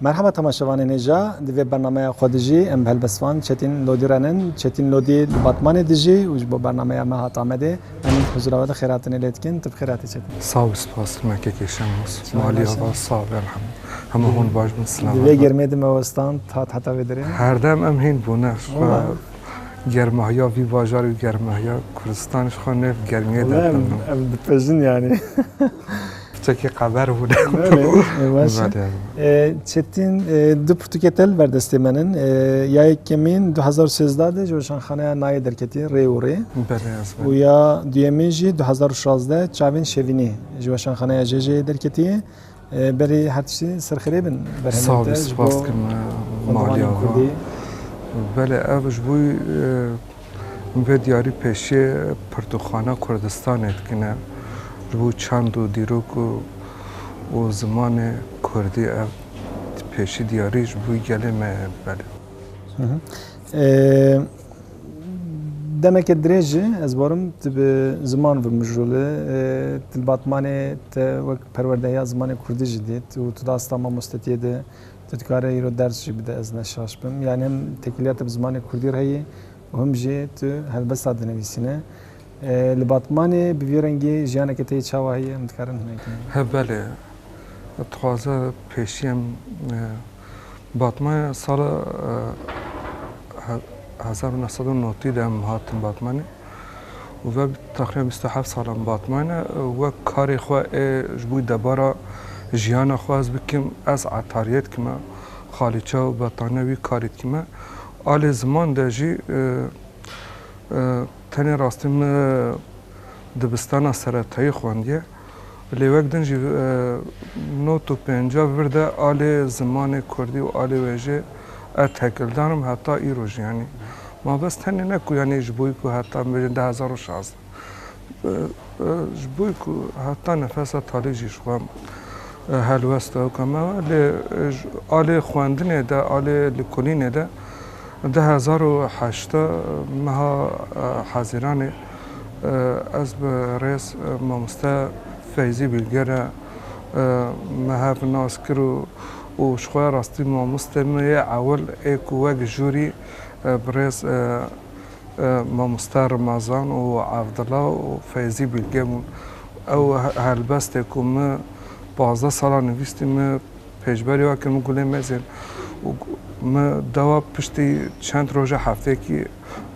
Merhaba temaşevanên hêja, di vê bernameya xwe de jî em bi helbestvan Çetîn Lodî re nin. Çetîn Lodî li Batmanê dijî û ji bo bernameya me hat Amedê. Em huzura we de xêrhatinê lê dikin. Tu bi xêr hatî Çetîn. Sax û spas me kekê Şenos. Malî ava sax be rehim. Hemû hûn baş bin silamat bin. Di vê germê de me westand hat heta vê derê. Herdem em hîn bûne. Germehiya vî bajarê û germehiya Kurdistanê ji xwe nêv germiyê derkevin. Ev dipejin yanî. Pirtûkê qeber bû ne. Çetîn du pirtûkê te li ber destê me in. Ya yek kemîn 2016 de ji Weşanxaneya Nayê derketî rê û rê. Û ya duyemîn jî 2016 çavên şevînê ji Weşanxaneya JJ'ê derketî. Berê her tiştî serxirê bin berhemên te ji bo maliyê Kurdî. Belê ev ji bo Vê diyarî pêşiyê pirtûkxana Kurdistanê dikine ji bo çand û dîrok û zimanê Kurdî. Ev pêşî diyarî ji bo gelê me ye. Belê. Demeke dirêj e ez barim tu bi ziman vimijole. Ti li Batmanê te wek perwerdehiya zimanê Kurdî jî dît û tu di asta mamostetiyê de Tu dikare îro ders jî bide ez ne şaş bim. Yanî him têkiliya te bi zimanê kurdî re heye û him jî tu helbesta dinivîsîne. Li Batmanê bi vî rengî jiyaneke te yê çawa heye em dikarin hinek bidin? He belê. Dixwaze pêşî em Batmanê sala hezar û neh sed û notî de em hatin Batmanê. û ve texmîna bîst û heft salan Batman e. Wek karê xwe ê ji bo debara jiyana xwe ez bikim, ez etariyê dikime, xalîça û betane wî karî dikime. A lê ziman de jî tenê rastî min dibistana seretayî xwendiye. Lêwek din jî not û pênca bi vir de alê zimanê kurdî û alê wê jê ez tekildan im heta îro jî yanî. Ma bes tenê ne ku yanî ji bo ku heta min bêjin du hezar û şazdeh ji bo ku heta nefesa talî jî ji xwe helwest dawika me we lê ji alê xwendinê de alê lîkolînê de du hezar û heşta meha hezîranê Ez bi rêz mamoste Feyzî Bîlger e me hev nas kir û ji xwe rastî mamostê me yê ewil ê ku wek jûrî bi rêz mamoste Rimezan û Evdila û Feyzî Bîlge bûn. Ew helbestê ku min pazdeh sala nivîstî min pêşberî we kir min gulê mêzê û min dewa piştî çend roja hefteyekî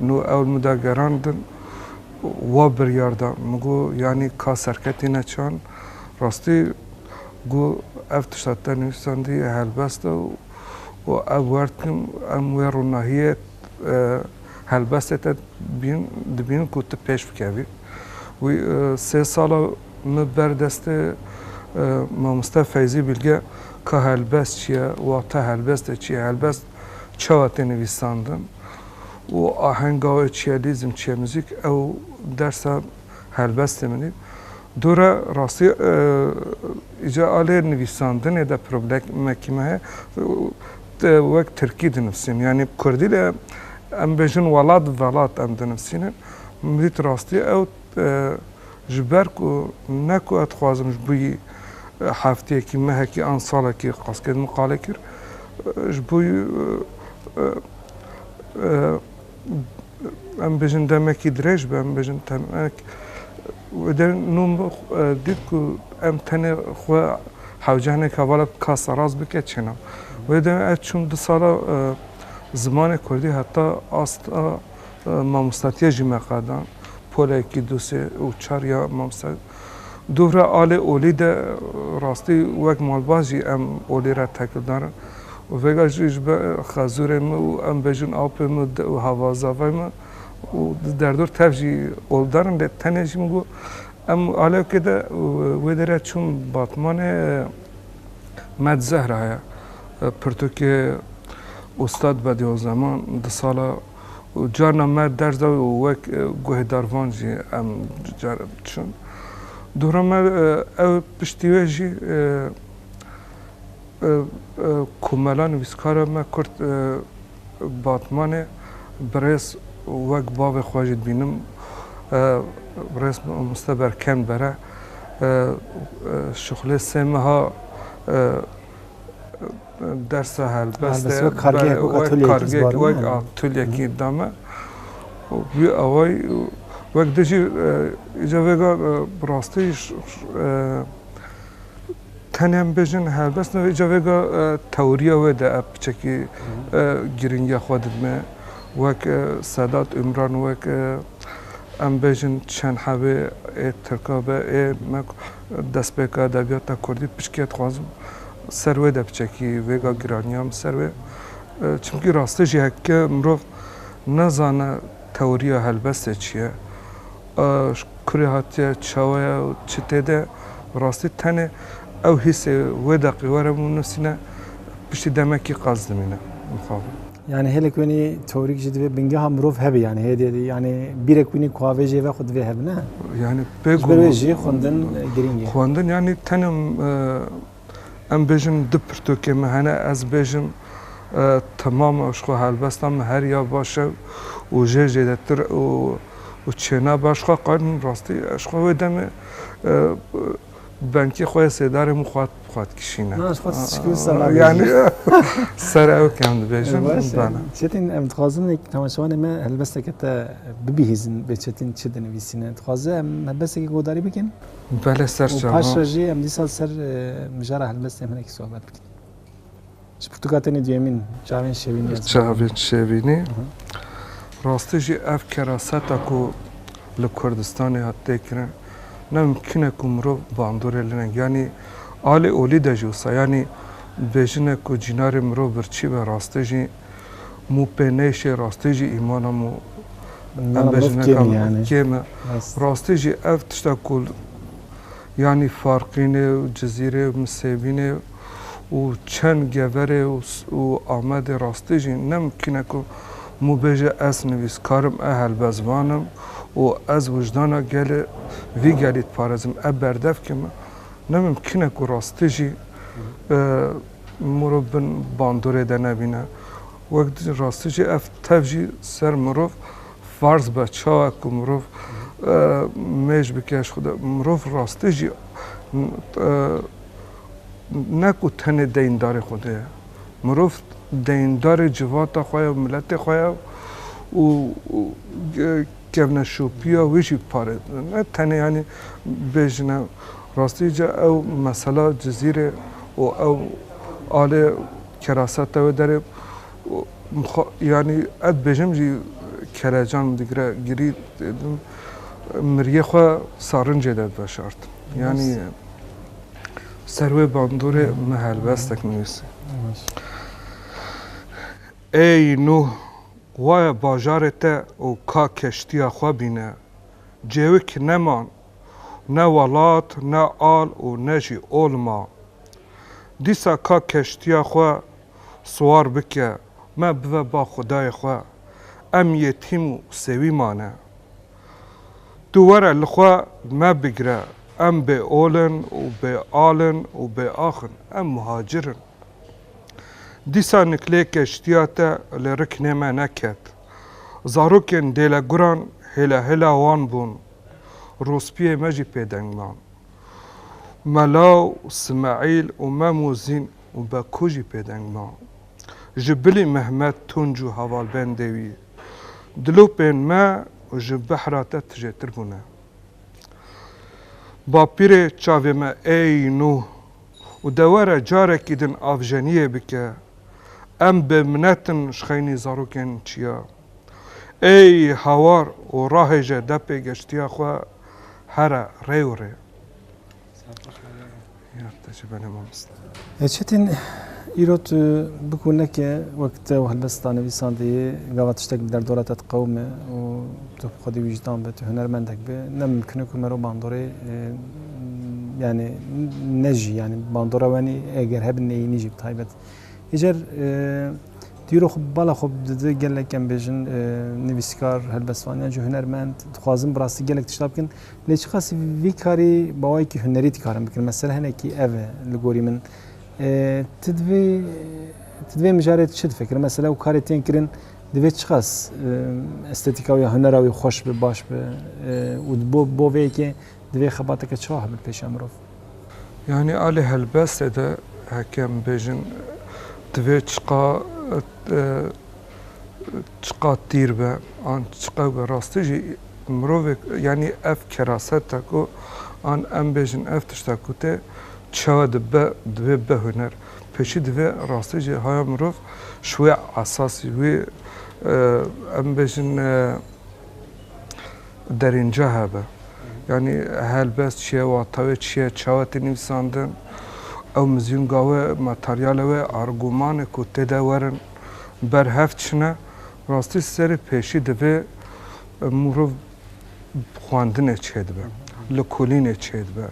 Nû ew li min de gerandin û wa biryar da. Min got, Yanî ka serketî ne çand? Rastî got, Ev tişta te nivîsandî helbest e û ev werd kim, em wê ronahiyê helbestê te dibînin ku tu pêş bikevî. Wî sê sala min ber destê mamoste Feyzî Bilge ka helbest çi ye, wate helbestê çi ye, helbest çawa tê nivîsandin û ahenga wê çi ye, lîzm çi ye, muzîk ew dersa helbestê min e. Dûre rastî îcar a lê nivîsandinê de problemekî me heye. Wek tirkî dinivîsînim yanî kurdî de em bêjin welat velat em dinivîsînin. Min dît rastî ew. Ji ber ku ne ku ez dixwazim ji bo hefteyekî, mehekî an salekî qasket min qale kir, ji bo em bêjin demekî dirêj be, em bêjin temek wê der nû min dît ku em tenê xwe hewce hinek hevala bi ka seraz bike çêna. Wê der ez çûm du sala zimanê kurdî heta asta Mamostatiya jî me qadan. Polekî du sê û çar ya mamosta. Dûvra alê olî de rastî wek malbat jî em olî re tekildar in. Vêga jî ji ber xezûrê min û em bêjin apê min û havazavay min û di derdor tev jî oldar in. Lê tenê jî min got em alewkê de wê derê çûm Batmanê. Med Zehra ye. Pirtûkê Ustad Bediozzaman di sala û carna me ders da û wek guhêdar van jî em care diçûn. Dûra me ew piştî wê jî ku mela nivîskara me Kurt Batmanê birêz wek bavê xwe jî dibînim birêz Muste Berkenbere Şixulê sê meha dersa helbestê wek kargeyek wek atûlyekî dame û wî awayî wek di jî îca vêga bi rastî tenê em bêjin helbest nebe îca vêga tewrîya wê de ev piçekî girîngiya xwe didime wek Sedat Umran wek Em bêjin çend hevê ê Tirka be ê me ku destpêka edebiyata Kurdî piştgî dixwazim ser wê de biçekî vêga giraniya min ser wê çimkî rastî jî heke mirov nezane tewriya helbestê çi ye ji kurê hatiye çawa ye û çi tê de ye rastî tenê ew hîsê wê deqê were min binusîne piştî demekî qas dimîne mixabin. Yanî hêlek wênî tewrîk jî divê bingeha mirov hebe yanî hê dê yanî bîrek wînî ku avê jê ve xwe divê hebe ne? Yanî pê ku wê jî xwendin girîng e. Xwendin yanî tenim em bêjin du pirtûkê me hene ez bêjim temam ji xwe helbesta min her ya baş e û jê zêdetir û çênabe ji xwe qedim rastî ji xwe wê demê Dengê xwe yê sêdarê min xwat xwat kişîne. Na ez xwe sişkî ser nabêjim. Yanî ser ew kem dibêjim. Baş e. Çetin em dixwazin wek temaşevanê me helbesteke te bibihîzin bê Çetin çi dinivîsîne. Dixwaze em helbestekî guhdarî bikin. Belê ser çavan. Û paşre jî em dîsa ser mijara helbestên hinekî sohbet bikin. Ji pirtûka tenê duyemîn çavên şevînî ez bixwînim. Çavên şevînî. Rastî jî ev keraseta ku li Kurdistanê hat têkirin ne mimkîn e ku mirov bandorê li ne. Yanî alî olî de jî wisa yanî bêjine ku cînarê mirov birçî be rastî jî mû pê nêşê rastî jî îmana mû em bêjineka kêm e. Rastî jî ev tişta ku yanî farqînê û cizîrê û misêbînê. û çend Geverê û Amedê rastî jî nemimkîn e ku min bêje ez nivîskar im, ez helbestvan im û ez wijdana gelê vî gelî diparêzim, ev berdevkê min nemimkîn e ku rastî jî mirov bin bandorê de nebîne. Wek rastî jî ev tev jî ser mirov farz be çawa ku mirov mêj bike ji xwe de. Mirov rastî jî ne ku tenê deyndarê Xwedê ye. Mirov deyndarê civata xwe ye û miletê xwe ye û kevneşopiya wî jî pare ne tenê yanî bêjine rastî ca ew mesela Cizîrê û ew alê keraseta wê derê mixwa yanî ev dibêjim jî kelecan min digire girî miriyê xwe sarincê de veşartim yanî Ser wê bandorê min helbestek nivîsî. Ey Nuh! Waye bajarê te û ka keştiya xwe bîne. Cêwik neman, ne welat, ne al û ne jî ol ma. Dîsa ka keştiya xwe siwar bike, me bive ba xwedayê xwe. Em yetîm û sewî mane. Tu were li xwe me bigire, em bê ol in û bê al in û bê ax in, em muhacir in. Dîsa Niklê keştiya te li riknê me neket. Zarokên dêleguran hêla hêla wan bûn. Rûspiyê me jî pê deng man. Mela û Simeîl û Mem û Zîn û Beko jî pê deng man. Ji bilî Mehmet Tunc û hevalbendê wî. Dilopên me ji behra te tijêtir bûne. Bapîrê çavê me ey nû û de were carekî din avjeniyê bike. Em bê minet in ji xeynî zarokên çiya. Ey hawar û rahêje de pê geştiya xwe here rê û rê. Çetin, îro tu bikû neke wek te û helbest da nivîsandeyê gava tiştek bi derdora te diqewime û tu bi xwedî wîjdan be, tu hunermendek be, ne mimkun e ku mero bandorê yanî nejî yanî bandora wenî eger hebin neyînî jî bi taybet. Îcar tu îro xwe bi bala xwe dide gelek em bêjin nivîskar, helbestvaniyan jî hunermend dixwazin bi rastî gelek tişta bikin. Lê çiqas vî karî bi awayekî hunerî dikarin bikin. Mesele hinekî ev e li gorî min. Ti divê ti divê mijarê çi difikir? Mesele ew karê tên kirin divê çiqas estetîka wî ya hunera wî xweş bi, baş bi û bo bo vê yekê divê xebateke çawa hebin pêşiya mirov? Yanî a li helbestê de hekem bêjin divê çiqa Çiqas tîr be an çiqas be rastî jî mirovek yanî ev keraset e ku an em bêjin ev tişta ku tê çawa dibe divê bibe huner. Pêşî divê rastî jî haya mirov ji wê esasî wê em bêjin derînca hebe. Yanî helbest çi ye, wata wê çi ye, çawa tê nivîsandin, ew mizyûnga we, materyala we, argûmanê ku tê de werin. berhev çine. Rastî serê pêşî divê mirov bi xwendinê çêdibe, li kulînê çêdibe.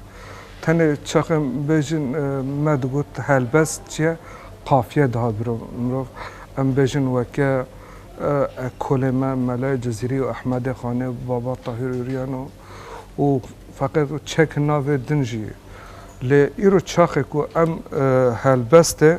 Tenê çaxê bêjin me digot helbest çi ye, qafiye dihat biro mirov. Em bêjin weke ekolê me Mele Cizîrî û Ehmedê Xanê û Baba Tahîr Ûryan û û feqet û çek navê din jî. Lê îro çaxê ku em helbestê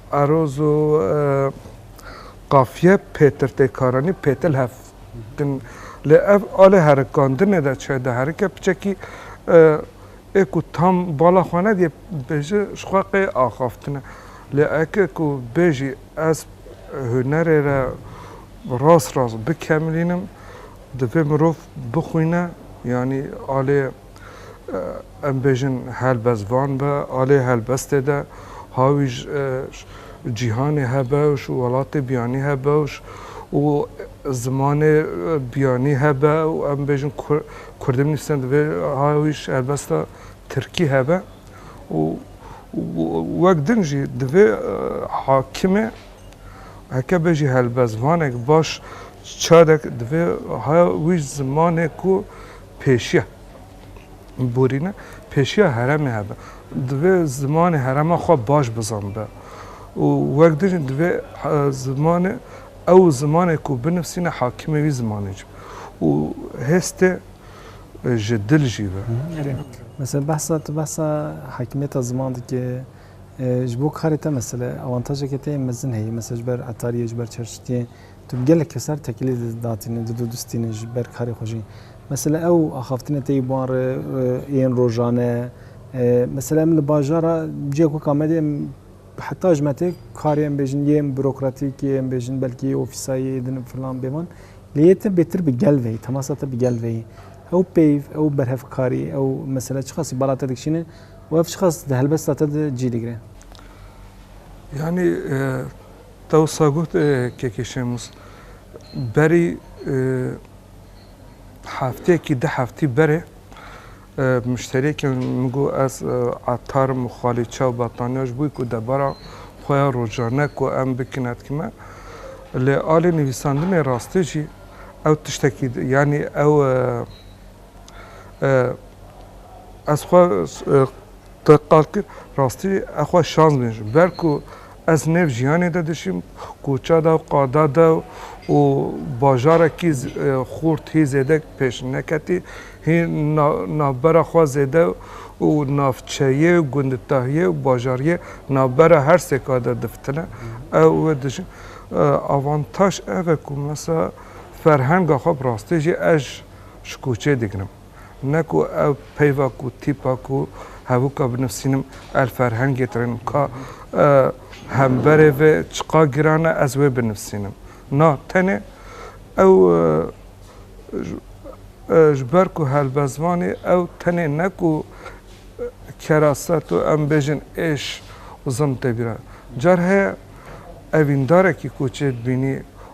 Aroz û qafiye pêtirtêkaranî pêtil hev din. Lê ev alê herikandinê de çi diherike piçekî ê ku tam bala xwe nedîye bêje ji xwe qê axaftine. Lê eke ku bêjî ez hunerê re rast rast bikemilînim divê mirov bixwîne yanî alê. Em bêjin helbest van be, alê helbestê de hawij cîhanê he bewş û welatê biyanî he bewş û zimanê biyanî he be û em bêjin kurdî binivîsne divê hawij helbesta tirkî he be û wek din jî divê hakimê heke bêjî helbestvanek baş çadek divê hawij zimanê ku Pêşiya borîne, pêşiya heremê hebe. Divê zimanê herema xwe baş bizanbe û wek dijî divê zimanê ew zimanê ku binivîsîne hakimê wî zimanê jî be û hêstê ji dil jî be. Mesela behsa tu behsa hakimiyeta ziman dikê ji bo karê te mesela awantajeke te yê mezin heye mesela ji ber etariyê ji ber çar şitiyê. Tu gelek keser tekilî didatînî, didodistînî ji ber karê xwe jî. Mesela ew axaftinê teyî bi wan re yên rojan e. Mesela em li bajara cihek wek Amedê em heta ji me tê karê em bêjin yên bürokratîk yê em bêjin belkî ofîsayê din filan bê van. Lê yê te bêtir bi gel veyî, temasa te bi gel veyî. Ew peyv, ew berhevkarî, ew mesela çiqasî bala te dikişîne û ev çiqas di helbesta te de cî digire. Yanî Te wisa got Keke Şemus, berî hefteyekî du heftî berê muşteriyekê min got ez etar im û xalî çay û battaniya ji bo ku debara xwe ya rojane ku em bikine dikime. Li alê nivîsandinê rastê jî ew tiştekî yanî ew Ez xwe qal kir rastî ew xwe şans bêjim. Ber ku ez nêv jiyanê de dijîm, koça de û qada de û bajarekî xurt hî zêde pêş neketî, hî navbera xwe zêde û navçeyê û gunditahiyê û bajariyê navbera her sêka de difitine. Ew wê dijîm. Avantaj ev e ku mesela ferhenga xwe bi rastî jî ez ji koçê digirim. Ne ku ev peyva ku tîpa ku hevûka binivîsînim el ferhengê tirênim ka hemberê vê çiqa giran e ez wê binivîsînim. Na tenê ew ji ber ku helbestvanê ew tenê ne ku keraset û em bêjin êş û zilm tê bîra. Car heye evîndarekî koçê dibînî.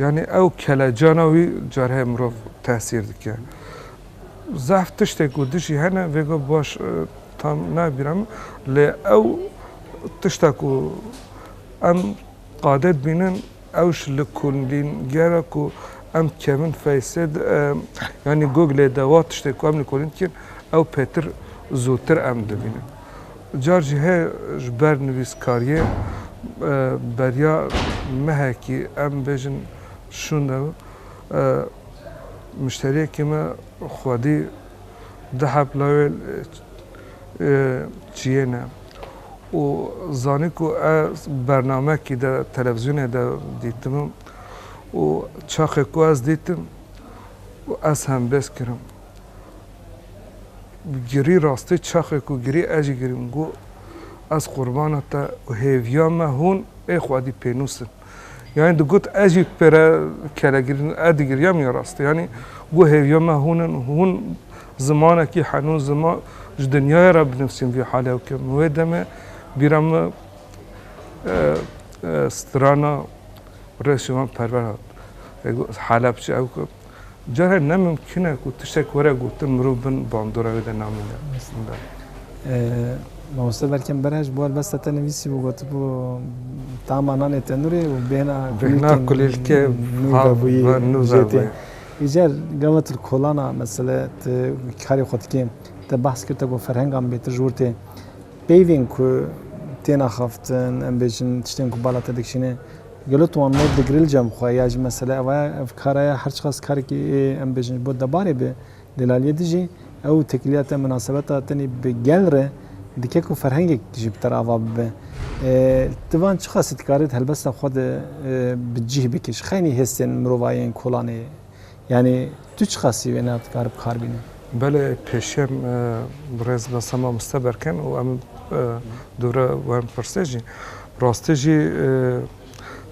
Yanî ew kelecana wî carheye mirov tesîr dike. Zehf tiştê ku dijî hene vêga baş tam nabîra min lê ew tişta ku em qadê dibînin ew ji li kolîngera ku em kevin Face de yanî Googlê de wa tiştê ku em li kolîn dikîn ew pêtir zûtir em dibînin. Car jî heye ji ber nivîskariyê beriya mehekî em bêjin şûnde mişteriyekî me xwedî dihep lawê çiyêne û zanî ku ez bernamekî de televizyonê de dîtime û çaxê ku ez dîtim ez hembêz kirim. Girî rastî çaxê ku girî ez jî girîm got, Ez qurbana te û hêviya me hûn ê xwedî pênûs in. Yanî digot ez jî pêre kele girîn ez digiriyam ya rastî. Yanî got hêviya me hûn in, hûn zimanekî henûn ziman ji dinyaya re binivîsîm vî halê ew ke min wê demê bîra min strana rê şivan perwer hat. Got Helepçe ew ku Carek ne mimkîn e ku tiştek were gotin mirov bin bandora wê de namîne. Mamoste Berkem Berhe ji bo helbesta te nivîsîbû gotibû tama nanê tenûrê û bêhna Bêhna kulîlkê nû vebûyê. Îcar gava tu li kolana mesele tu karê xwe dikê te behs kir te got ferhenga min bêtir ji wir tê. Peyvên ku têne axaftin em bêjin tiştên ku bala te dikişîne. Gelo tu wan nod digirî li cem xwe ya jî mesele ev e ev kara ye her çiqas karekî em bêjin ji bo debarê be lê la lê dijî ew têkiliya te minasebeta tenê bi gel re dike ku ferhengek jî bi te re ava bibe. Ti van çiqasî dikarît helbesta xwe di bi cîh bikî ji xeynî hêstên mirovayê yên kolanê. Yanî tu çiqasî wê na dikare bi kar bîne? Belê pêşiyem birêz Mesa Mamoste Berken û em dûre wan pirsê jî. Rastî jî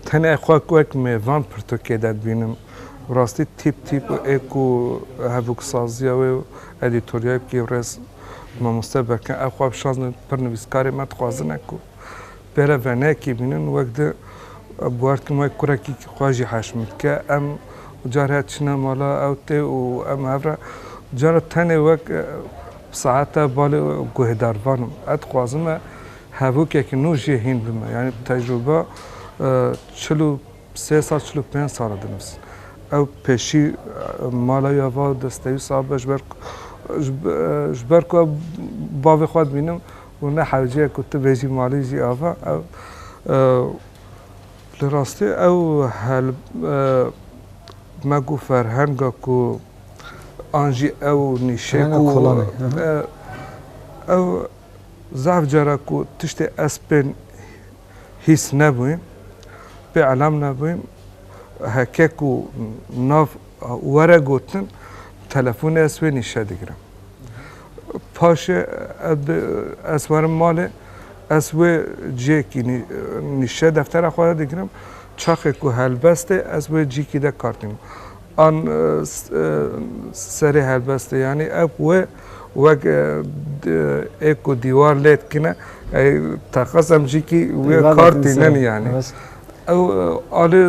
tenê xwe wek me van pirtûkê de dibînim. Rastî tîp tîp û ê ku hevoksaziya wê û edîtoryayê ku yê birêz Mamoste Berken ew xwe bişazin pir nivîskarê me dixwazine ku Pere venekê bînin wek di guartin wek kurekî xwe jî heşm dike. Em car her çine mala ew tê û em hev re cara tenê wek saeta balê guhêdar van im. Ez dixwazim e hevokekî nû jê hîn bime. Yanî tecrûba çil û sê sal çil û pênc sal e dimes. Ew pêşî mala wî ya va destewî sabe ji ber ji ber ku ew bavê xwe dibînim Û ne hewce ku tu bêjî malê jî ava ew li rastî ew hel me ku ferhenga ku an jî ew nîşe ku ew zaf cara ku tiştê ez pê hîs nebûyim pê elam nebûyim heke ku nav were gotin telefonê ez wê nîşe digirim. Paşê ez werim malê, ez wê ciyekî nîşe deftera xwe de digirim, çaxê ku helbestê ez wê cîkî de kartîm. An serê helbestê yanî ev wê wek ê ku dîwar lê dikine ey teqez em cîkî wê kartînin yanî. Ew alê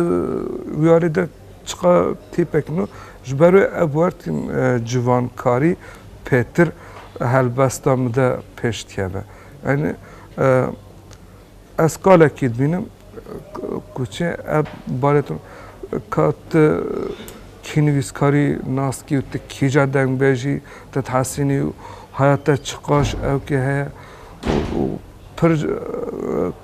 wî alê de Çiqa tîpek no ji ber wê ev wertîn civankarî pêtir helbesta min de pêş dikeve. Yanî ez kalekî dibînim ku çi ev barê tu ka tu kînivîskarî nas kî û tu kîja dengbêjî te dihesînî û heya te çiqaş ew kê heye û pir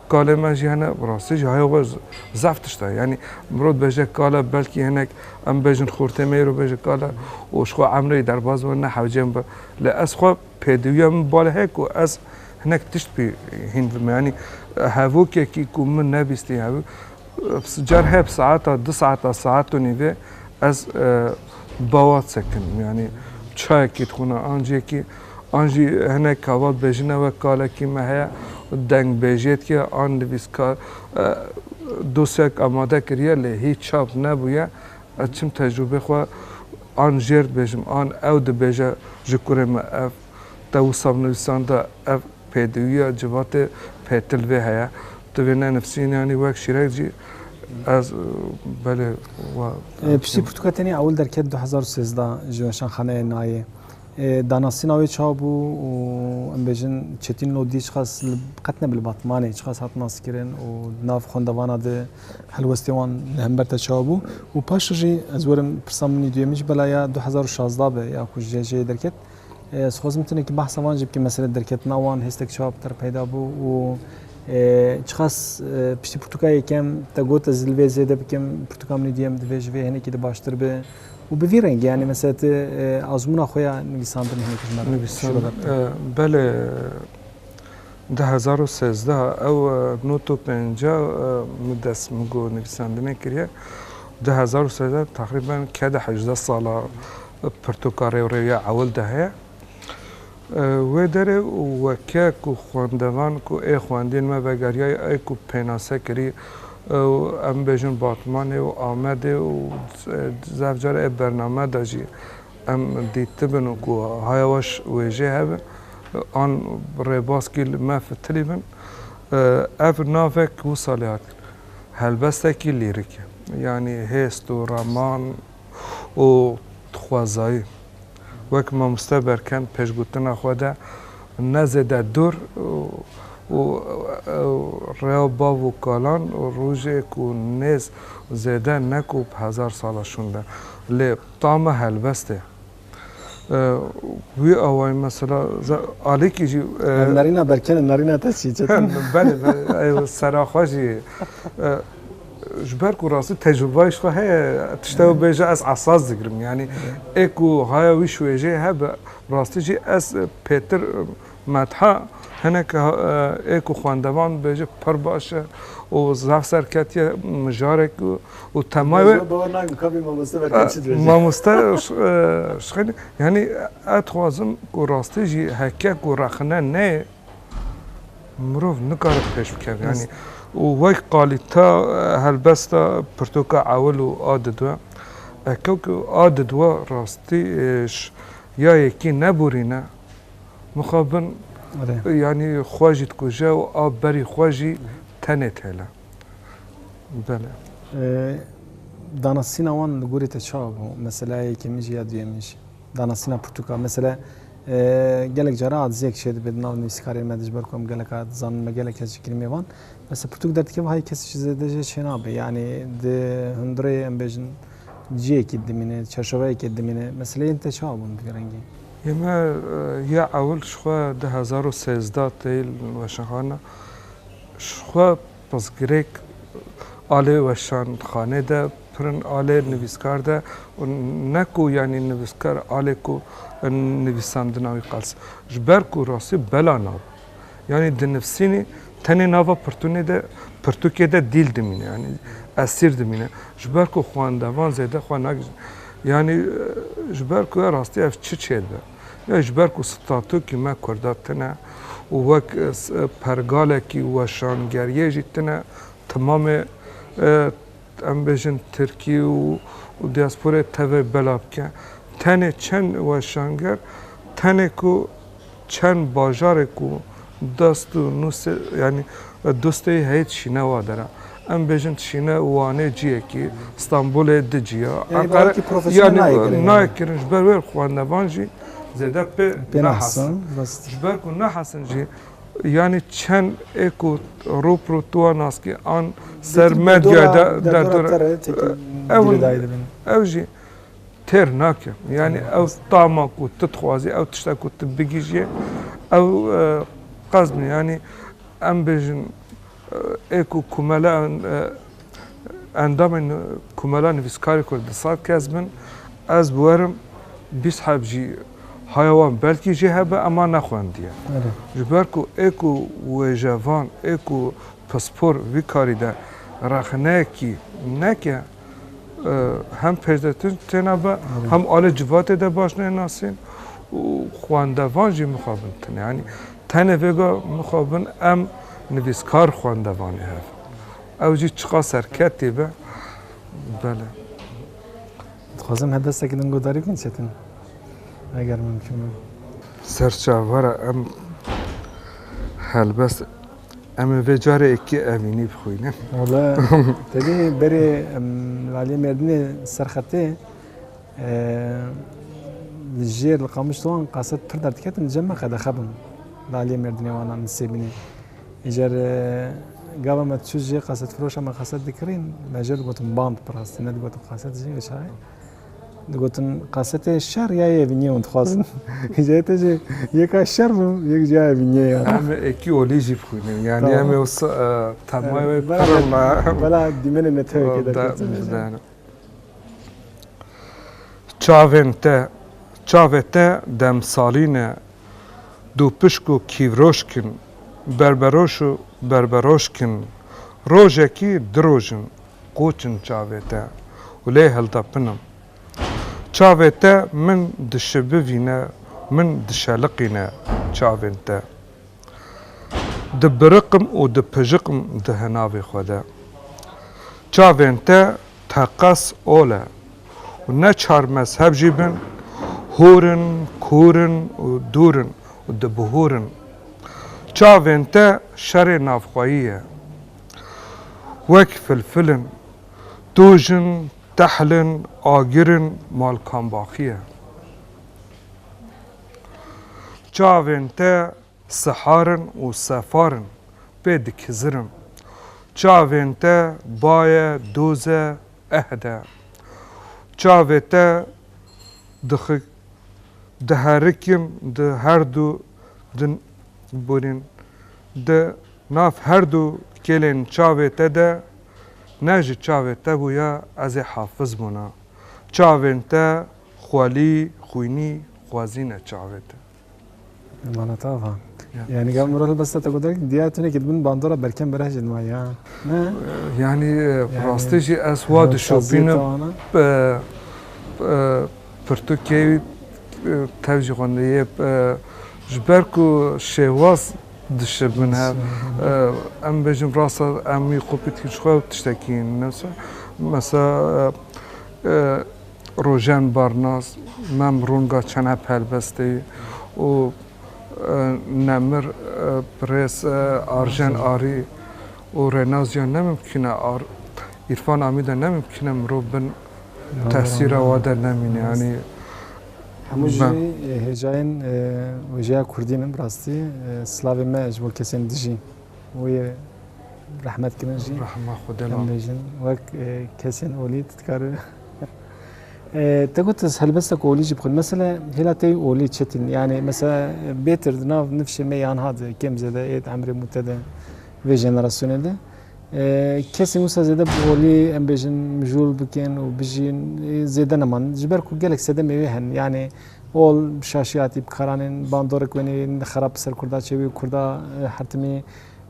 Kalê me jî hene, bi rastî jî heya we zaf tişt e. Yanî mirov dibêje kale belkî hinek em bibêjin xortê me îro bêje kale û ji xwe emrê derbas be ne hewce min be. Lê ez xwe pêdiwiya min bale heye ku ez hinek tişt pî hîn dime. Yanî hevokekî ku min nebîstî hev car heye bi saeta du saeta saet û nîvê ez bawa sekindim. Yanî çayekî dixwîna an ciyekî. An jî hinek kava dibêjin ew e kalekî me heye û deng bêjiyê dikiye. An nivîskar dosyayek amade kiriye lê hîç çap nebûye. Ez çim tecrûbê xwe an jêr dibêjim an ew dibêje ji kurê me ev te wisa bi nivîsan de ev pêdiwiya civatê pêtil vê heye. Tu vê nenivîsî yanî wek şîrek jî ez belê wa. Pirsî pirtûka te nî ewil derket du hezar û sêzdeh ji weşanxaneyê nayê. Danasîna wê çawa bû û em bêjin Çetîn Lodî çiqas qet ne bi li Batmanê çiqas hat naskirin û di nav xwendevana de helwestê wan li hember te çawa bû û paşê jî ez werim pirsa min î duyemî jî bela ya du hezar û şazdeh be ya ku ji CC'yê derket. Ez dixwazim tenekî behsa wan jî bikim mesele derketina wan hêstek çawa bi te re peyda bû û çiqas piştî pirtûka yekem te got ez li vê zêde bikim pirtûka min î duyem divê ji vê hinekî de baştir be. Û bi vî rengî yanî mesela tu azmûna xwe ya nivîsandinê hinekî ji me re şîro ver bike. Belê du hezar û sezdeh ew not û pênca min dest min got nivîsandinê kiriye. Du hezar û sezdeh teqrîben kede hejdeh sal a pirtûka rêwrêwîya ewil de heye. Wê derê weke ku xwendevan ku ê xwendîn me vegeriyayê ey ku pênase kirî û em bêjin Batmanê û Amedê û zaf car ê bername de jî em dîtibin û ku hayawaş wê jê hebe an rêbaz kî li me fitilî bin. Ev navek wisa lê hat helbestekî lîrîk e. Yanî hêst û raman. û dixwazayî wek mamoste berken pêşgotina xwe de ne zêde dûr û rêya bav û kalan û rojê ku nêz zêde ne ku bi hezar sala şûnde lê tama helbestê. Wî awayî mesela alîkî jî. Nerîna berken e nerîna te çi ye çetin. Belê belê sera xwe jî ji ber ku rastî tecrûbeyê ji xwe heye tişte ew bêje ez esas digirim yanî ê ku haya wî şwêjê hebe rastî jî ez pêtir Metha, Hineke ê ku xwendevan dibêje pir baş e û zaf serketiye mijarek û temay wê. Ez bawer nakim ka vê mamoste bertev çi dibêje. Mamoste, Şixêlî, yanî ez dixwazim ku rastî jî heke ku rexne neyê mirov nikare bi pêş bikeve yanî û wek qalîta helbesta pirtoka ewil û a didwe. Heke ku a didwe rastî ya yekî neborîne. mixabin yanî xwe jî dikuje û a berî xwe jî tenê têle. Belê. Danasîna wan li gorî te çawa bû? Mesela yekemîn jî ya duyemîn jî. Danasîna pirtûka. Mesela gelek caran adziyek çêdibe di nav nivîskarên me de ji ber ku em geleka dizanin me gelek kes ji kirîmê van. Mesela pirtûk derdikeve hay kes ji zêde jê çênabe. Yanî di hundirê em bêjin ciyekî dimîne, çerçoveyekê dimîne. Mesela yên te çawa bûn bi girengî? Yê me ya ewil ji xwe du hezar û sêzdeh tê li weşanxana. Ji xwe pirsgirêk alê weşanxanê de pirin alê nivîskar de û ne ku yanî nivîskar alê ku nivîsandina wî qels. Ji ber ku rastî bela nabin. Yanî di nivsînê tenê nava pirtûnê de pirtûkê de dîl dimîne yanî esîr dimîne. Ji ber ku xwendevan zêde xwe nagihîjin. Yanî ji ber ku rastî ev çi çê dibe. Ya ji ber ku statûkî me Kurda tune û wek pergalekî weşangeriyê jî tune timamê Em bêjin Tirkî û diasporayê tevê bela bike. Tenê çend weşanger, tenê ku çend bajarê ku dest û nûsê yanî dûstê yê heyî dişîne wa dera. Em bêjin dişîne Wanê ciyekî, Stenbolê di ciya, Enqere yanî nayê kirin ji ber wê xwendevan jî zêde pê nehasin. Ji ber ku nehasin jî. Yanî çend ê ku rû bi rû tu wan nas kî an ser medyaya de derdora te re têkî girêdayî dibin. Ew jî têr nake. Yanî ew tama ku tu dixwazî, ew tişta ku tu bigihîjî ew qezbin. Yanî em bêjin Ê ku komela endamên Komela Nivîskarê Kurd di sed kes bin, ez bi werim bîst heb jî haya wan belkî jê hebe ema nexwendiye. Ji ber ku ê ku wêjevan, ê ku pispor vî karî de rexneyekî neke, hem pêşdetin têna be hem alê civatê de baş nênasîn û xwendevan jî mixabin tune yanî tenê vêga mixabin em nivîskar xwendevanê hev ew jî çiqa serketî be bele. Dixwazim hedestekî din guhdarî bikin çetin eger mimkûn be. Serçavara em helbest Em ê vê carê ekê evînî bixwînin. Wala tevî berê Aliyê Mêrdinê serxetê li jêr li qamiştowan qase pirda diketin cem me qedexe bûn. Li Aliyê Mêrdinê wana min sêbînê. Îcar gava me çû jê qasetfiroşa me qaset dikirîn me jê digotin band bi rastî ne digotin qaset jî li çaye. Digotin kasetê şer ya yê vînyê hûn dixwazin. Jê te jê yeka şer bû yek jî ya yê vînyê ya. Em ekî olî jî bixwînin. Yanî em ê wisa temay wê pirin la. Bela dîmenê netewekê derketin. Çavên te Çavê te demsalî ne. Dûpişk û kîvroşk in. Berberoş û berberoşk in. Rojekî di roj in. Qoçim çavê te û lê hiltepinim. Çavê te min dişibivîne, min dişeliqîne çavên te. Dibiriqim û dipijiqim di hinavê xwe de. Çavên te teqez ol e û ne çar mezheb jî bin, hûr in, kûr in û dûr in û dibihûrin. Çavên te şerê navxweyî ye. wek filfil in, toj in, tehl in, agir in, malkambaxî ye. Çavên te sihar in û sefar in, pê dikizirin. Çavên te baye, doz e, ehd e. Çavê te dixi diherikin di herdu di borîn di Nav herdu kêlên çavê te de ne ji çavê te bûye ez ê hafiz bûna. Çavên te xwelî, xwînî, xwezîne çavê te. Wala tava. Yani gel Murat Basta te godak diya tune ki dibin bandora berkem bereh jin ma ya. Ne? Yani rastı ji es va dişopine pırtu kevi tevji xonde ye ji ber ku şevaz Dişê min hev em bêjim rasta em wî kopî dikin ji xwe tiştekî nivîse. Mesela Rojen Barnas, Mem Runga Çene Pelbestê û Nemir Pirêz Arjen Arî û Rênazîya ne mimkîn e Îrfan Amîde ne mimkîn e mirov bin tesîra we de nemîne. Yanî Hemû jî hêjayên wêjeya kurdî ne bi rastî silavê me ji bo kesên dijî wê yê rehmet kirin jî em bêjin wek kesên olî tu dikar te got ez helbesta ku olî jî bixwin mesela hêla te olî çetin yani mesela bêtir di nav nifşê me yan hat kêm zêde êd emrê mû te de vê jenerasyonê de Kesên wisa zêde bi holê em bêjin mijûl bikin û bijîn zêde neman. Ji ber ku gelek sedemê wê hene. Yanê hol şaşiyatî bi karan ên bandorek wê nê xerab bi ser kurda çêbî û kurda hertimî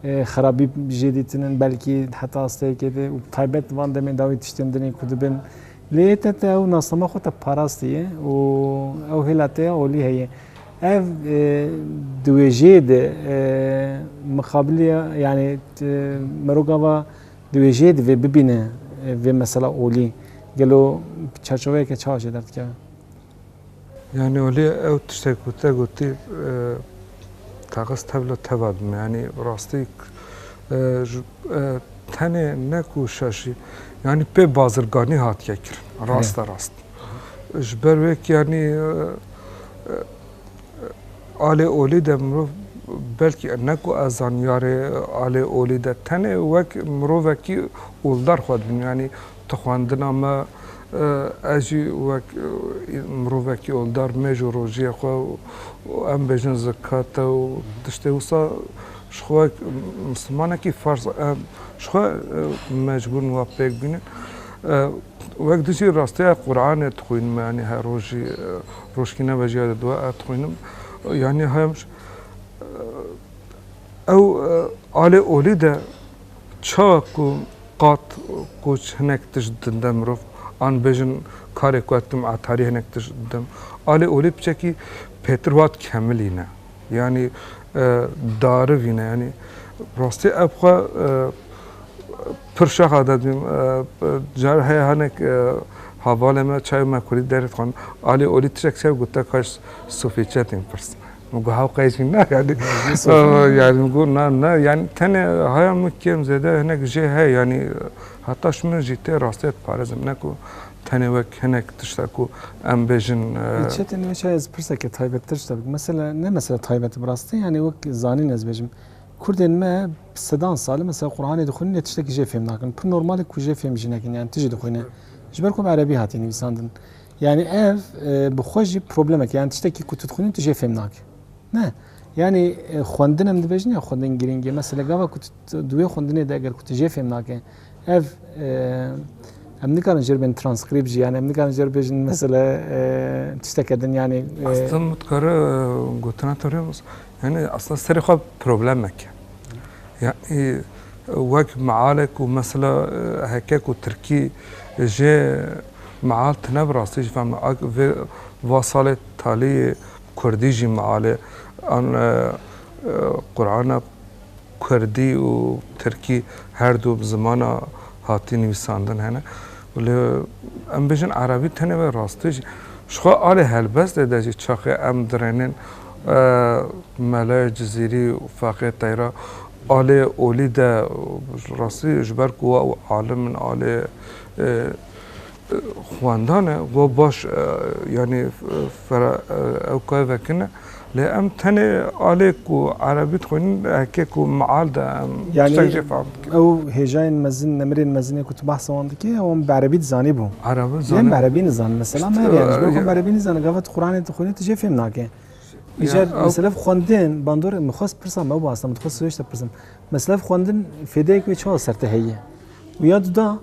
xerabî jê dîtinin belkî heta asteyekê de û taybet van demên dawî tiştên dinê ku dibin. Lê yê te te ew nasnama xwe te parastiye û ew hêla te ya holî heye. Ev di wêjeyê de mixabiliya yanî miroka va di wêjeyê divê bibîne vê mesela olî gelo bi çerçoveyeke çawa jê derdikeve? Yani olê ew tiştek ku te gotî teqis tevla teva dime yanî rastî tenê ne ku şaşî yanî pê bazirganî hatiye kirin raste rast. Ji ber wê ku yanî alê olî de mirov belkî ne ku ez zanyarê alê olî de tenê wek mirovekî oldar xwe dibînim. Yanî tu xwendina me ez jî wek mirovekî oldar mêj û rojiyê xwe û em bêjin zikka te û tiştê wisa ji xwe wek mislimanekî ferz e. Ji xwe mecbûr in wa pêk bînin. Wek tu jî rasteya Quranê dixwîn me yanî her rojî rojkî ne vejîya di dua ez dixwînim yanî hemş ew alê olî de çawa ku qat ku hinek tişt dinde mirov an bêjin karê ku ez dikim etarî hinek tişt didim alê olî piçekî pêtir wat kemilî ne. Yanî darivîne yanî rastî ev xwe pir şaxa de dibîm. Cari heye hinek havalê me çayê me Kurdî derê dixwin. Alî olî tişek çaye gote kaş sofê çi ye tên pirsîne. Min got hew qey jî na yanî. Yanî min got na na yanî tenê haya min kêm zêde hinek jê heye yanî hetaş min jî tê rastîye diparêzim ne ku Tenê wek hinek tişta ku em bêjin. Lê çetê nê şayê ez pirseke taybettir ji te bikim. Mesela ne mesela taybet bi rastî yanî wek zanîn ez bêjim. Kurdên me bi sedan sal e mesela Qur'anê dixwînin lê tiştekî jê fêm nakin. Pir normal e ku jê fêm jî nekin yanî tu jî dixwîne. Ji ber ku bi erebî hatiye nivîsandin. Yanî ev bi xwe jî problemek e. Yanî tiştekî ku tu dixwînî tu jê fêm nakî. Ne. Yanî xwendin em dibêjin ya xwendin girîng e. Mesela gava ku tu di wê xwendinê de eger ku tu jê fêm nake. Ev em nikarin jêr bên transkrîpt jî yanî em nikarin jêr bêjin mesela tişteke din yanî Aslan mutkara gotina te rêbas yanî aslan serê xwe problemek e. Yanî wek mealek û mesela heke ku tirkî jê meal tine bi rastî jî fehme ak vê va salê talî kurdî jî mealê an Qurana Kurdî û tirkî her du bi zimana hatî nivîsandin hene û lê em bêjin erebî tenê wê rastî jî. Ji xwe alî helbestê de jî çaxê em dirênên Melaya Cizîrî û Feqê Teyra alê olî de rastî ji ber ku we û alim in alê Xwendan e wa baş yanî fera ew kar vekin e lê em tenê alê ku erebî dixwînin heke ku mial de em tiştek jê fehm dikin. Ew hêjayên mezin nemirên mezinê ku tu behsa wan dikî wan bi erebî dizanîbû. Erebî zanîbû. Yên bi erebî nizanin mesela me heye ji ber ku em bi erebî nizanin gava tu quranê dixwînî tu jê fêm nake. Îcar mesela bi xwendin bandorê min xwest pirsa me ew bi asta min dixwest siwêş te pirsim. Mesela bi xwendin fêdeyek wê çawa ser te heye û ya tu da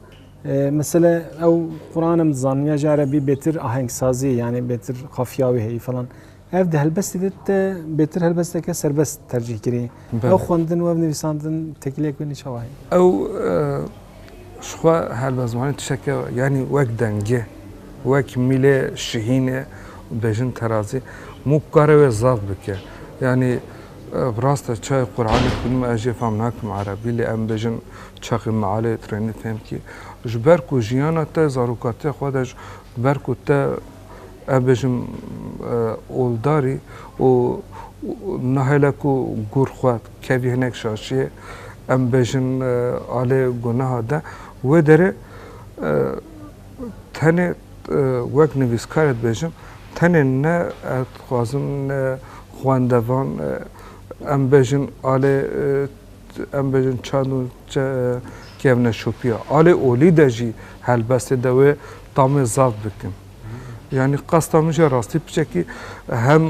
Mesela ew Quranem dizan ya jare bî bêtir ahengsazî yanî bêtir qafiya wî heyî falan. Ev di helbestê de te bêtir helbesteke serbest tercîh kirî. Ew xwendin û ev nivîsandin tekîlek wê nîçawa heye. Ew xwe helbest zimanê tişeke yanî wek dengê, wek mîlê şihînê û bejin terazî mû kare wê zaf bike. Yanî bi rast e çaye Quranê xwînim ez jê fam nakim erebî lê em bêjin Çaxê Mealê Trênê tên bikî. Ji ber ku jiyana te zarokatiya xwe de ji ber ku te ev bêjim oldarî û nahêle ku gûr xwe kevî hinek şaşiyê em bêjin alê gunaha de wê derê tenê wek nivîskarê dibêjim tenê ne ez dixwazim ne xwendevan em bêjin alê em bêjin çend û kevneşopiya alê olî de jî helbestê de wê tamê zaf bikin. Yanî qasta min jî rastî piçekî hem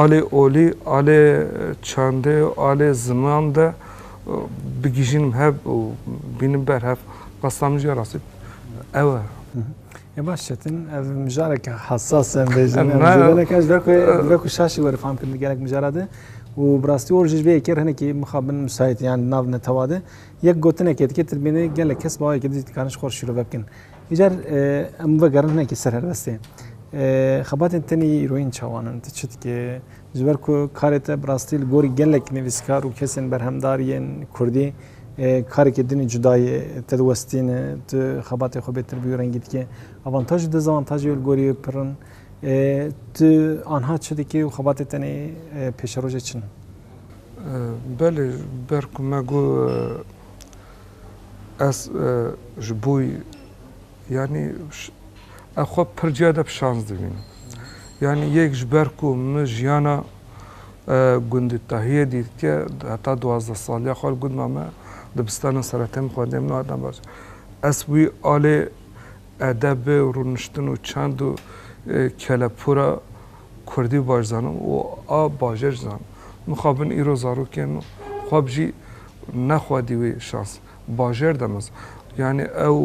alê olî, alê çandê, alê ziman de bigihîjinim hev û bînim ber hev. Qasta min jî rastî ew e. E baş çetin ev mijarek hassas em bêjin. Mijarek ez ve ku ve ku şaşî were fam kirin gelek mijara de û bi rastî or ji vê yekê hinekî mixabin müsait yan nav netewa de yek gotinekê dike tilbînê gelek kes bawayekê dî dikarin ji xwe şîrove bikin. Îcar em vegerin hinekî ser helbestê. Xebatên tenê yê îroyîn çawan in tu çi dikê? Ji ber ku karê te bi rastî li gorî gelek nivîskar û kesên berhemdar yên kurdî Karekê din ê cuda yê. Te di westîne, tu xebatê xwe bêtir bî û rengî dike. Avantaj û dezavantajê wê li gorî wê pir in. Tu anha çi dikî û xebatê te nê pêşerojê çi ne? Belê, ber ku me got ez ji bo Yanî ez xwe pir cih de bi şans dibînim. Yanî yek ji ber ku min jiyana gundê Tahiyê dîtke heta duwazdeh saliya xwe li gund ma me dibistana seretê min xwendê min hatine baş. Ez wî alê edebê û rûniştin û çend û kelepûra kurdî baş zanim û a bajêr jî zanim. Mixabin îro zarokên min xwe bijî nexwedî wê şans. Bajêr de mez. Yanî ew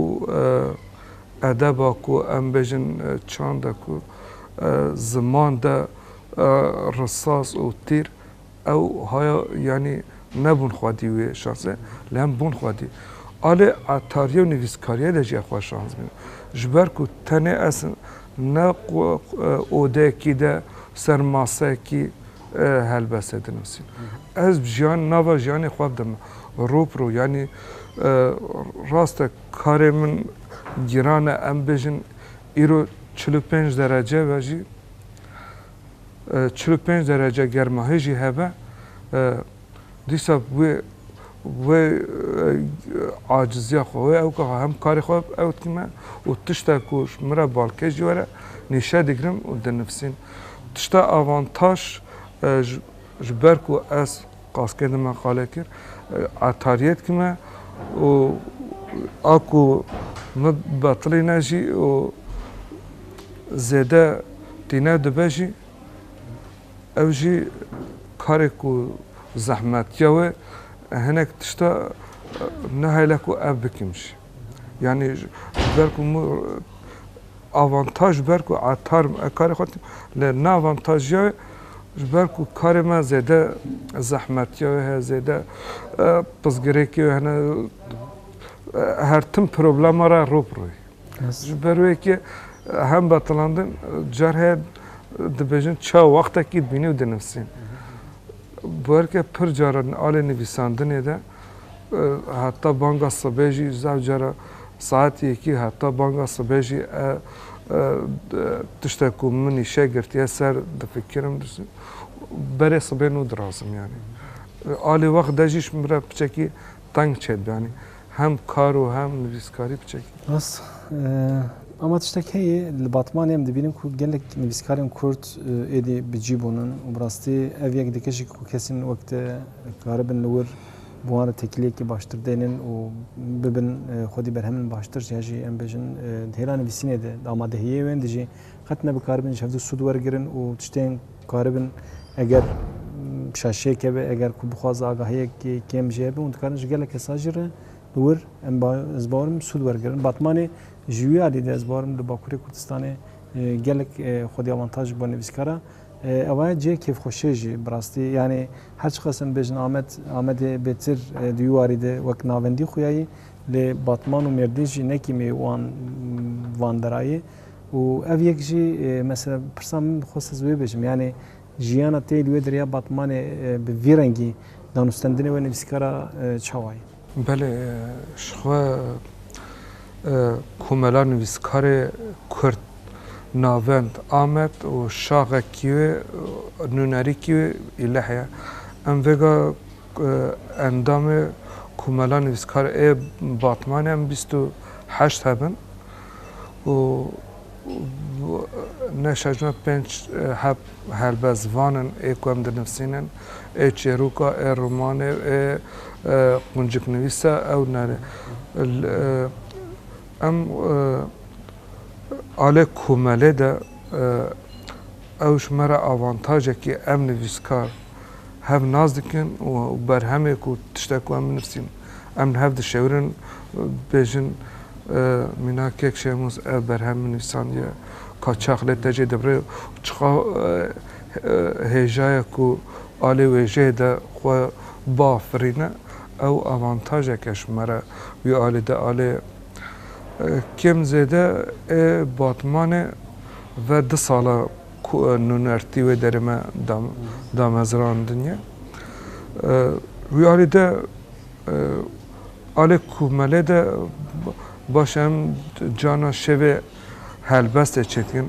edeba ku em bêjin çand e ku ziman de risas û tîr ew haya yanî nebûn xwedî wê şansê lê em bûn xwedî. A lê etariyê û nivîskariyê de jî ev xwe şans bîne. Ji ber ku tenê ez ne odeyekî de ser maseyekî Helbeste dinusîn. Ez jiyan nava jiyanê xwe bidim ro bi ro yanî rast e karê min giran e em bêjin îro çil û pênc derece ve jî çil û pênc derece germahê jî hebe Dîsa wê wê aciziya xwe wê ew ka hem karê xwe ew dikî me û tişta ku ji min re balkêş jî were nîşe digirim û dinivîsîm. Tişta avantaj ji ber ku ez qaskê di me qale kir etariyê dikî me û a ku min betilî ne jî û zêde tîne dibe jî Ev jî karê ku zehmet ya wê hinek tişta nehêle ku ev bikim jî. Yanî ji ber ku min avantaj ji ber ku etar im, ev karê xwe dikim. Lê ne avantaj ya wê ji ber ku karê me zêde zehmet ya wê heye, zêde pirsgirêkê wê hene. Her tim problema re ro bi ro yê. Ji ber wê ke hem betilandin car heye dibêjin ça wextekî dibînî û dinivîsî. Bi her ke pir cara alê nivîsandinê de heta banga sibê jî zaf cara saet yekî heta banga sibê jî tişte ku min îşe girtiye ser difikirim berê sibê nû dirazim yanî. Alê wext de jî min re piçekî teng çêdibe yanî. hem kar û hem nivîskarî biçek e. Rast e, bama tiştek heye li Batmanê em dibînin ku gelek nivîskarên Kurd êdî bi cî bûnin û bi rastî ev yek di keşî ku kesên wek te dikaribin li wir bi wan re tekîliyekî baştir dênin û bibin xwedî berhemin baştir ya jî em bêjin di hêla nivîsînê de amadehiyê wên de jî qet ne bikaribin ji hev du sûd wergirin û tiştên Dikaribin eger şaşêke be eger ku bixwaze agahiyek kêm jê hebe hûn dikarin ji gelek kesa jî re li wir em ez barim sûd wergirin. Batmanê ji wî alî de ez barim li Bakurê Kurdistanê gelek xwedî avantaj bo nivîskara ewa ye cihê kêfxweşê jî bi rastî yanê her çiqas em bêjin Amed Amedê bêtir di wî warî de wek navendî xuyayî lê Batman û Mêrdîn jî nekî mê wan van derayê. Û ev yek jî mesela pirsa min dixwest ez wê bêjim yanê jiyana te li wê derya Batmanê bi vî rengî danûstendinê wê nivîskara çawa ye? Belê ji xwe komela nivîskarê Kurd Navend Amed û şaxekî wê nûnerîkî wê îleh ye. Em vêga endamê komela nivîskar ê Batmanê em bîst û heşt hebin. û ne şajna pênc heb helbest van in ê ku em dinivîsînin, ê çêrûka, ê romanê, ê qunciknivîsa ew ne ne. Em alê komelê de ew ji me re avantajekî ye em nivîskar hev nas dikin û berhemê ku tiştek ku em binivîsîn em li hev dişewirin dibêjin mîna kek Şemûz ev berhem min nivîsandiye ka çax lê te jê dibirê û çiqa hêjayek ku a lê wê jê de xwe biafirîne ew avantajek e ji me re wî alî de a lê kêm zêde ê Batmanê ve du sal e. Ku nûnertî wê derê me damezrandiniye. Wî alî de alê ku me lê de baş e em cana şevê helbestê çêdikin.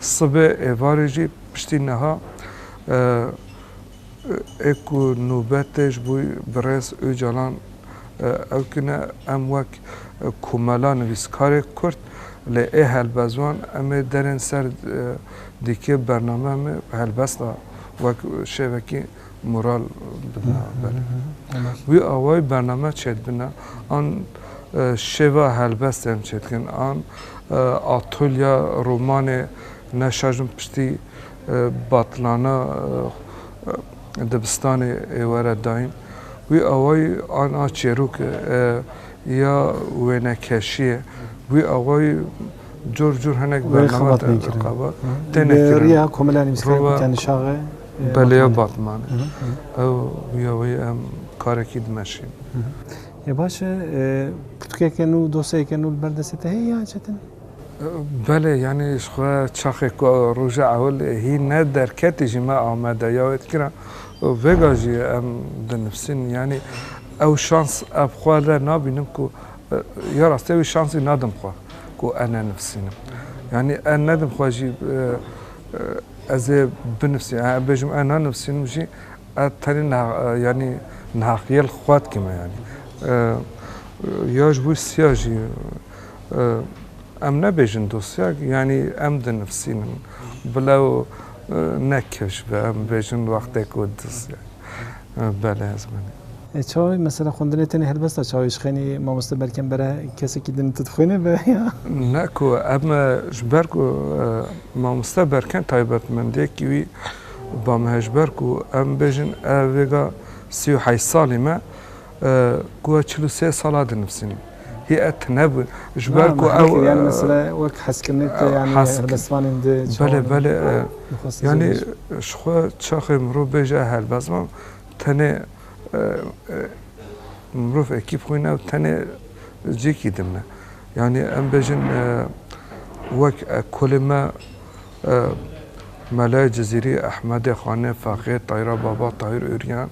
Sibê êvarê jî piştî niha Ê ku nûbet tê ji bo birêz Ocalan ew kine em wek komela nivîskarê Kurd lê ê helbestvan em ê derên ser dîkê bernameya me helbesta wek şêvekî moral bidin ber. Wî awayî bername çêdibine an şêva helbestê em çêdikin an atolya romanê ne şajin piştî Batilana dibistanê êware dayîn. Wî awayî an a çêrok e ya wênekeşiyê. Wî awayî cor cor hinek bername tê nekirin. Bi riya Komila Nivîskarên Kurdiya Nişaxê Batilane. Belê ya Batilane. Ew wî awayî em karekî dimeşîn. Baş e, pirtûkeke nû, dosyayeke nû li ber destê te heye yan çetin? Belê yanî ji xwe çaxê ku roja ewil hî ne derketî jî me Amede ya wê dikirin û vêga jî em dinivîsin yanî ew şans ev xwe li nabînim ku ya rastî wî şansî nadim xwe ku e nenivîsînim yanî e nedim xwe jî ez ê binivîsim em bêjim e nanivîsînim jî e tenê niha yanî nihaqîyê li xwe dikîme yanî ya ji wî siya jî Em nebêjin dosya yanî em dinivîsînin. Bila û ne kevş be em bêjin wextê ku dosya bele ez binê. Çawa mesela xwendinê tenê helbesta çawê ji xênî mamoste belkem bere kesekî din tu dixwînî be ya? Ne ku em ji ber ku mamoste berken taybetmendiyekî wî bame ji ber ku em bêjin ev vêga sî û heyş salî me. Ku ez çil û sê sal a dinivîsînim. Hî ez tune bû ji ber ku ew. Yanî mesela wek heskirine te yanî helbestvanên di çawa de. Belê belê. Yanî ji xwe çaxê mirov bêje helbestvan tenê mirov ekîb xwîne ew tenê cêkî dimne. Yanî em bêjin wek kolê me Melayê Cizîrî, Ehmedê Xanê, Fexê, Tayra Baba, Tahîr Ûryan.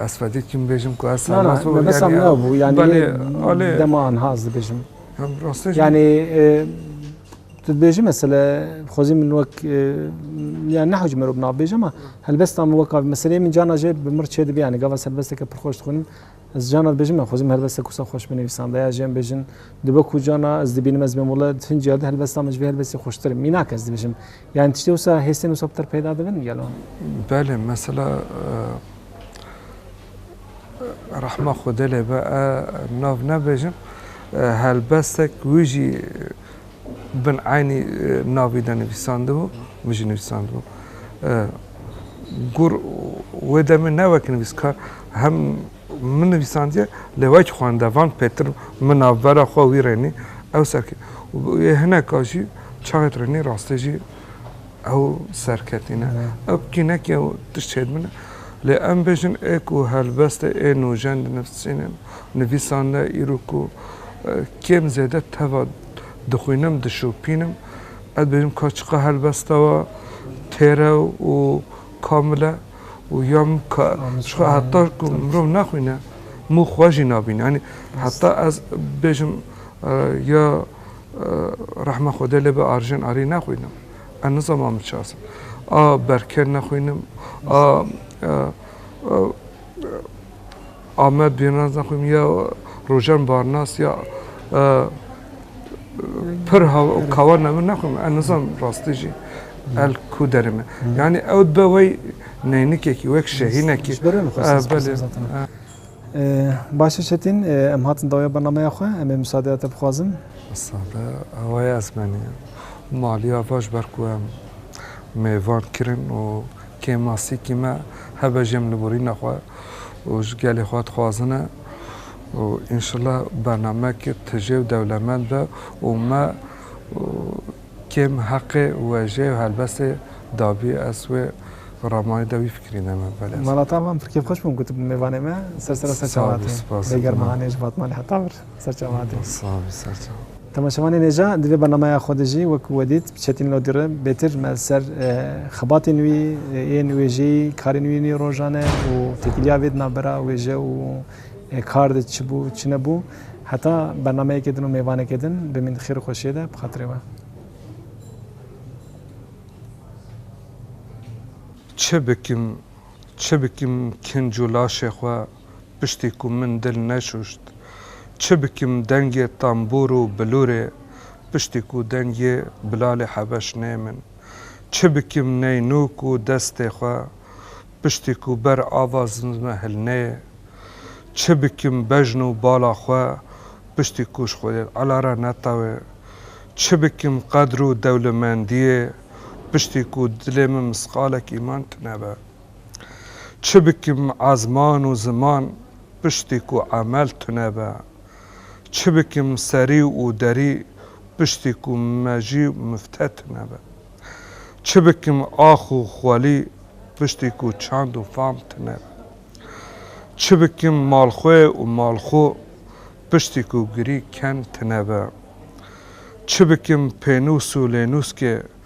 Ez fedî kim bêjim ku ez Na na Sarnas me besam yani nabû yani belê lê alê dema an haz dibêjim. hem rastej Yani e, tu dibêjim mesela xwezî min wek e, yani nehewc merov nabêj ama helbesta min weka meselê min cana jê bi mir çêdibe yani gava serbesteke pir xweş dixwînim ez cana dibêjim me xwezî min helbesta kusa xweş binivîsanda ya jê em bêjin dibe ku cana ez dibînim ez bêm wele di hinciya di helbesta min ji vê helbestê xweştir mînak ez dibêjim Yani tiştê wisa hêsên wisa piter peyda dibin gelo? Belê mesela rehma xwedê lê be e nav nebêjim helbestek wî jî bin eynî navî de nivîsandibû wî jî nivîsandibû gur wê demê ne wek nivîskar hem Min nivîsandiye lê wek xwendevan pêtir min navbera xwe wî rênî ew serketî û yê hineka jî çaxê rênî rastî jî ew serketî ne. Ew kînekî ew tişt çê dimîne. Lê em bêjin ê ku helbestê ê nûjen di nivîsînê nivîsan de îro ku kêm zêde teva dixwînim dişopînim ez dibêjim ka çiqa helbesta we têr e û kamil e. û ya min ka ji xwe heta ku mirov naxwîne mû xwe jî nabîne. Yanî heta ez bêjim ya rehma Xwedê lê be Arjen Arî naxwînim. Ez nizama min çi asim. A Berker naxwînim a Amed Bîrnazan xwe ya rojan barnas ya pir kawa navin nexwim ez nizam rastî jî el ku derê me. Yanî ew dibe wey neynikekî wek şehînekî Başe Çetîn em hatin dawaya bernameya xwe em ê misadeya te bixwazin. Misade awaya ez menî maliya vaş ber ku em mêvan kirin û Kêm masîkî me hebe jê em li borîna xwe û ji gelê xwe dixwazin e û înşela bernameyekê tije û dewlemend be û me kêm heqê wêjeyê û helbestê dabî ez wê ramanî de wî fikirî ne me belê ez. Malata wan bi kêfxweş bûm ku tu bi mêvanê me ser serê ser çawa hatî. Spas spas. Bêgerma hanê ji Batmanê heta vir. Ser çav hatî. Sağ ol, ser çav. Tamam Şevanê Nêca di vê bernameya xwe de jî wek we dît bi Çetîn Lodî re bêtir me li ser xebatên wî yên wêjeyî, karên wî nî rojan e û têkiliya vê di navbera wêje û kar de çi bû çi nebû heta bernameyekê din û mêvanekê din bimîn di xêr û xweşiyê de bi xatirê we. Çi bikim, çi bikim kinc û laşê xwe. piştî ku min dil neşûşt. Çi bikim dengê tembûr û bilûrê piştî ku dengê Bilalê Hebeş nê min. Çi bikim neynûk û destê xwe piştî ku ber ava zimzme hilneyê. Çi bikim bejn û bala xwe piştî ku ji xwedê ela re netewê. Çi bikim qedr û dewlemendiyê piştî ku dilê min misqalek îman tunebe. Çi bikim a ziman û ziman piştî ku emel tune be? Çi bikim serî û derî piştî ku mejî û mifte tune be? Çi bikim ax û xwelî piştî ku çand û fam tune be? Çi bikim malxwê û malxo piştî ku girî ken tune be? Çi bikim pênûs û lênûskê